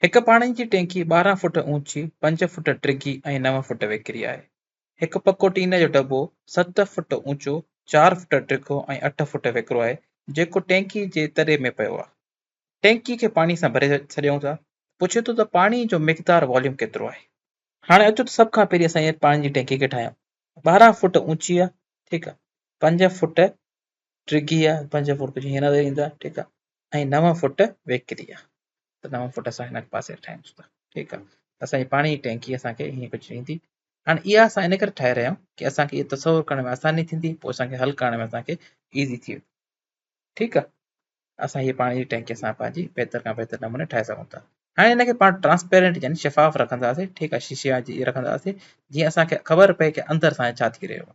هڪ پاڻي جي ٽينڪي ٻارهن فوٽ اوچي، پنج فوٽ ڊگهي ۽ نو فوٽ ويڪري آهي. هڪ پڪو ٽين جو ڊٻو ست فوٽ اوچو، چار فوٽ ڊگهو ۽ اٺ فوٽ ويڪرو آهي، جيڪو ٽينڪي جي تري ۾ پيو آهي. ٽينڪي کي پاڻي سان ڀري ڇڏيون ٿا. پڇي ٿو ته پاڻي جو مقدار، Volume، ڪيترو آهي؟ هاڻي اچو ته سڀ کان پهرين اسان هيء پاڻي جي ٽينڪي کي ٺاهيون. ٻارهن فوٽ اوچي آهي، ٺيڪ آهي. پنج فوٽ ڊگهي آهي، پنج فوٽ ڪجهه هينئر اندر ايندا، ٺيڪ آهي. ۽ نو فٽ ويڪري آ ته نو فٽ اسان هن پاسي ٺاهيون ٿا ٺيڪ آ اسان جي پاڻي جي ٽينڪي اسان کي هيئن ڪجهه ڏيندي هاڻي اها اسان ان ڪري ٺاهي رهيا آهيون ڪي اسان کي اهو تصور ڪرڻ ۾ آساني ٿيندي پوء اسان کي حل ڪرڻ ۾ اسان کي ايزي ٿي ويندي ٺيڪ آ اسان هي پاڻي جي ٽينڪي اسان پنهنجي بهتر کان بهتر نموني ٺاهي سگهون ٿا هاڻي ان کي پاڻ ٽرانسپيرنٽ يعني شفاف رکنداسين ٺيڪ آ شيشي جي رکنداسين جيئن اسان کي خبر پئي ڪي اندر اسان جو ڇا ٿي رهيو آ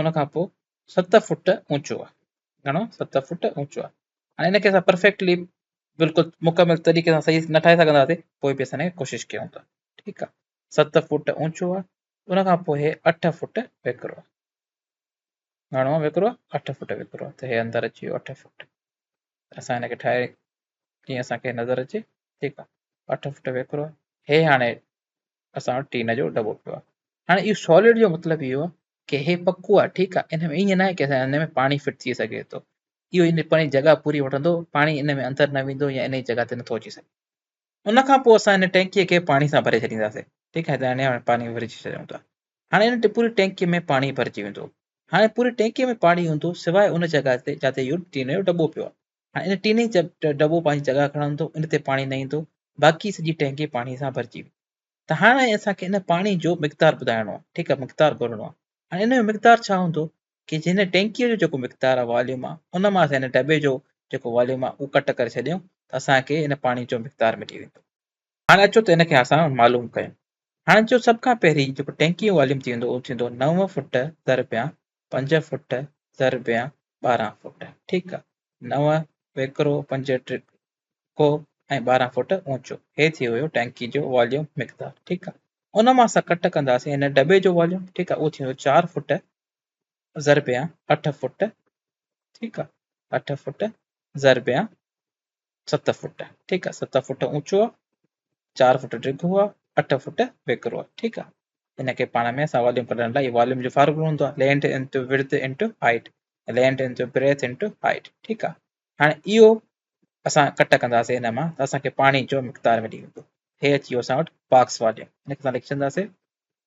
ان کان پوء ست فوٽ اوچو آهي گهڻو ست فوٽ اوچو آهي هاڻي ان کي اسان پرفيڪٽلي بلڪل مڪمل طريقي سان صحيح نه ٺاهي سگهنداسي پوء به اسان ان کي ڪوشش ڪيون ٿا ٺيڪ آهي ست فوٽ اوچو آهي ان کان پوء هي اٺ فوٽ ويڪرو آهي گهڻو آهي ويڪرو اٺ فوٽ ويڪرو آهي ته هي اندر اچي ويو اٺ فوٽ اسان ان کي ٺاهي ڪيئن اسانکي نظر اچي ٺيڪ آهي اٺ فوٽ ويڪرو آهي هي هاڻي اسان وٽ ٽين جو دٻو پيو آهي هاڻي اهو سوليڊ جو مطلب اهو آهي ڪي هي پڪو آهي ٺيڪ آهي ان ۾ ائين ناهي ڪي هن ۾ پاڻي فٽ ٿي سگهي ٿو اهو ان پنهنجي جڳهه پوري وٺندو پاڻي ان ۾ اندر نه ويندو يا ان جي جڳهه تي نٿو اچي سگهي ان کان پوء اسان ان ٽينڪيء کي پاڻي سان ڀري ڇڏينداسين ٺيڪ آهي هاڻي پاڻي ڀري ڇڏيون ٿا هاڻي ان پوري ٽينڪيء ۾ پاڻي ڀرجي ويندو هاڻي پوري ٽينڪيء ۾ پاڻي هوندو سواء ان جڳهه تي جتي اهو ٽين جو دٻو پيو آهي هاڻي ان ٽين ئي دٻو پنهنجي جڳهه کڻندو، ان تي پاڻي نه ايندو، باقي سڄي ٽينڪي پاڻي سان ڀرجي ويندي. ته هاڻي اسان کي ان پاڻي جو مقدار ٻڌائڻو آهي، ٺيڪ آهي، مقدار ڳولڻو آهي. هاڻي ان جو مقدار ڇا هوندو ڪي جي هن ٽينڪيء جو جيڪو مقدار آهي، واليوم آهي، ان مان اسان ان دٻي جو جيڪو واليوم آهي، اهو ڪٽ ڪري ڇڏيون ته اسان کي ان پاڻي جو مقدار ملي ويندو. هاڻي اچو ته ان کي اسان معلوم ڪيون. هاڻي جو سڀ کان پهرين جيڪو ٽينڪيء جو واليوم ٿيندو اهو ٿيندو نو فوٽ ضرب يا پنج فٽ ضربيان ٻارهن فٽ ٺيڪ آ نو ويڪرو پنج ٽيڪو ۽ ٻارهن فٽ اوچو هي ٿي ويو ٽينڪي جو واليوم مقدار ٺيڪ آ ان مان اسان ڪٽ ڪنداسين هن ڊٻي جو واليوم ٺيڪ آ اهو ٿيندو چار فٽ ضربيان اٺ فٽ ٺيڪ آ اٺ فٽ ضربيان ست فوٽ ٺيڪ آ ست فوٽ اوچو آ چار فوٽ ڊگهو آ اٺ فوٽ ويڪرو آ ٺيڪ آ ان کي پاڻ ۾ اسان واليوم ڪڍڻ لاء واليوم جو فارمولو هوندو آ length into width into height length into breadth into height ٺيڪ آ هاڻي اهو اسان ڪٽ ڪنداسين هن مان ته اسان کي پاڻي جو مقدار ملي ويندو هي اچي ويو اسان وٽ باڪس واليوم ان کي اسان لکي ڇڏنداسين